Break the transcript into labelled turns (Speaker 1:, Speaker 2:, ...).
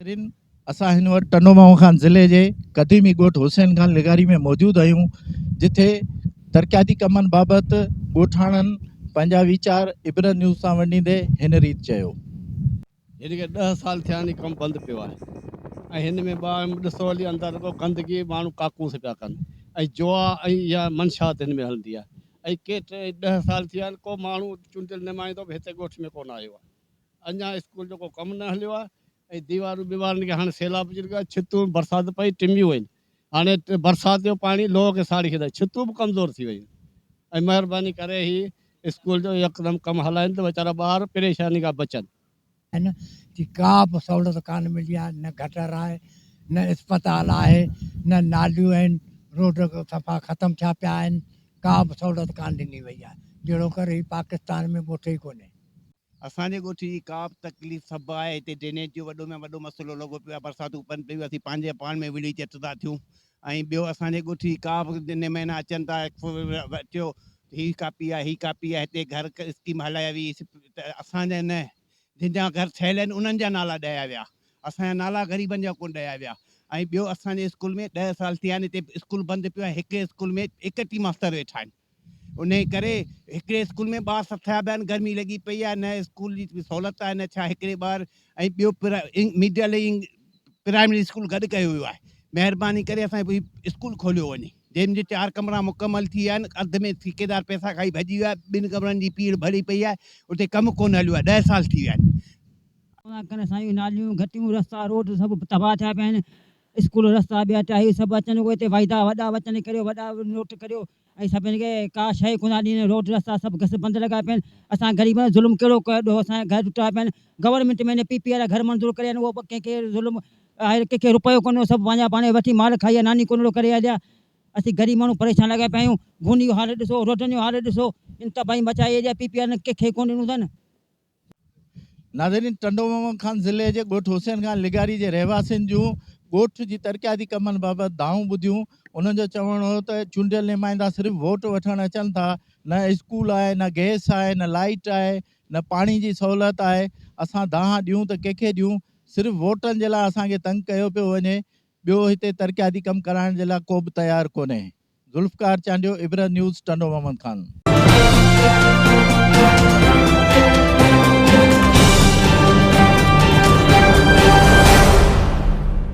Speaker 1: ناظرين اسان هن وقت ٽنڊو ماهو خان ضلعي جي قديمي ڳوٺ حسين خان لغاري ۾ موجود آهيون جتي ترقياتي ڪمن بابت ڳوٺاڻن پنهنجا ويچار عبرت نيوز سان ونڊيندي هن ريت چيو. هن
Speaker 2: کي ڏهه سال ٿيا آهن هي ڪم بند پيو آهي ۽ هن ۾ ٻه آهن ڏسو علي اندر رڳو گندگي ماڻهو ڪاڪونس پيا ڪن ۽ جوا ۽ اها منشات هن ۾ هلندي آهي ۽ ڪي ٽي ڏهه سال ٿيا آهن ڪو ماڻهو چونڊيل نمائندو به هتي ڳوٺ ۾ ڪونه آيو آهي اڃا اسڪول جو ڪو ڪم نه هليو آهي ۽ ديوارون ٻيوارن کي هاڻي سيلاب اچي لڳو آهي ڇتون برسات پئي ٽميون آهن هاڻي برسات جو پاڻي لوهه کي ساڙي ڇڏيو آهي، ڇتون به ڪمزور ٿي ويون آهن، مهرباني ڪري هي اسڪول جو يڪدم ڪم هلائين ته ويچارا ٻار پريشاني کان بچن. هن
Speaker 3: جي ڪا به سهولت ڪانه ملي آهي، نه گٽر آهي، نه اسپتال آهي، نه ناليون آهن، روڊ صفا ختم ٿيا پيا آهن، ڪا به سهولت ڪانه ڏني وئي آهي، جهڙوڪر هي پاڪستان ۾ ڳوٺ ئي ڪونهي. اسان جي ڳوٺ
Speaker 4: جي ڪا به تڪليف سڀ آهي هتي ڊرينيج جو وڏو ۾ وڏو مسئلو لڳو پيو آهي برساتون پن پيون اسين پنهنجي پاڻ ۾ وڙهي چٽ ٿا ٿيون ۽ ٻيو اسان جي ڳوٺ جي ڪا به جنهن مهينا اچن ٿا اچيو هي ڪاپي آهي هي ڪاپي آهي هتي گهر اسڪيم هلائي وئي ته اسان جا نه جن جا گهر ٺهيل آهن انهن جا نالا ڏيا ويا اسان جا نالا غريبن جا ڪونه ڏيا ويا ۽ ٻيو اسان جي اسڪول ۾ ڏهه سال ٿيا آهن هتي اسڪول بند پيو آهي هڪ اسڪول ۾ ايڪٽيهه ماستر ويٺا آهن انهيء ڪري هڪڙي اسڪول ۾ ٻار سڀ ٿيا پيا آهن، گرمي لڳي پئي آهي، نه اسڪول جي سهولت آهي، نه ڇا هڪڙي ٻار ۽ ٻيو مڊل ۽ پرائمري اسڪول گڏ ڪيو ويو آهي، مهرباني ڪري اسان جي اسڪول کوليو وڃي، جنهن جي چار ڪمرا مڪمل ٿي ويا آهن، اڌ ۾ ٺيڪيدار پئسا کائي ڀڄي ويو آهي، ٻن ڪمرن جي پيڙهه ڀري پئي آهي، اتي ڪم ڪونه هليو آهي، ڏهه سال ٿي ويا آهن. ان ڪري اسان جون ناليون،
Speaker 5: گهٽيون، رستا، روڊ سڀ تباهه ٿيا پيا آهن. اسڪول رستا ٻيا ٽاهيو سڀ اچن اهي تي وعدا وڏا وچن ڪريو وڏا نوٽ ڪريو ۽ سڀني کي ڪا شئي ڪونه ڏين روڊ رستا سڀ گس بند لڳا پيا آهن اسان غريبن ظلم ڪهڙو ڪيو ڏهو اسان جا گهر ٽٽا پيا آهن گورنمينٽ ۾ نه پي پي وارا گهر منظور ڪريا آهن اهو ڪنهن کي ظلم آهي ڪنهن کي رپيو ڪونه سڀ پنهنجا پاڻ وٺي مال کائي ويا ناني ڪونڙو ڪري هليا اسين غريب ماڻهو پريشان لڳا پيا آهيون گوني جو حال ڏسو روڊن جو حال ڏسو ان تباهي مچائي ايريا پي پي وارن ڪنهن کي ڪونه ڏنو اٿن. ناظرين
Speaker 1: ٽنڊو محمد خان ضلعي جي ڳوٺ حسين خان لغاري جي رهواسين جون ڳوٺ جي ترقياتي ڪمن بابت دانهون ٻڌيون، انهن جو چوڻ هو ته چونڊيل نمائندا صرف ووٽ وٺڻ اچن ٿا، نه اسڪول آهي، نه گئس آهي، نه لائيٽ آهي، نه پاڻي جي سهولت آهي، اسان دانهن ڏيون ته ڪنهن کي ڏيون، صرف ووٽن جي لاء اسان کي تنگ ڪيو پيو وڃي، ٻيو هتي ترقياتي ڪم ڪرائڻ جي لاء ڪوبه تيار ڪونهي. ذوالفقار چانڊيو عبرت نيوز ٽنڊو محمد خان.